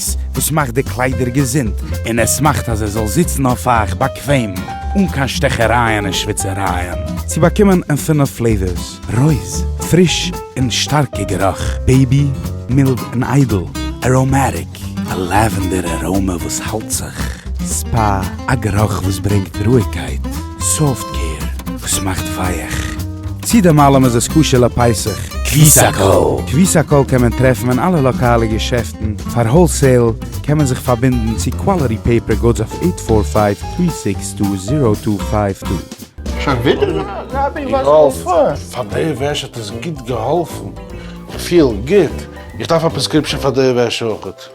ס וואס מאכט די קליידער געזונט און עס מאכט אז עס זאל זיצן אויף אייך באקוועם אן קיין שטעכערייען און שוויצערייען. צו באקומען אין פֿינף פלעיווערס, רויז, פריש און שטארקע גערוך, בעיבי, מילד און איידל, אראמעטיק, א לעווענדער אראמע וואס האלט זיך, ספא, א גערוך וואס ברענגט רואיגקייט. סאפט קעיר וואס מאכט ווייעך. צי דעם אלעם איז עס כשר לפסח. קוויסאקאל. קוויסאקאל קען מען טרעפן אין אלע לאקאלע געשעפטן, פאר האלסעיל קען מען זיך פארבינדן צו קוואליטי פעיפער גודס אויף עיט פאר פייוו טרי סיקס טו זירא טו פייוו טו. שוין ווידער רבי וואס האסטו פאר? די וועש האט עס גוט געהאלפן, כ'פיל גוט, איך דארף א פרעסקריפשאן פאר די וועש אויך.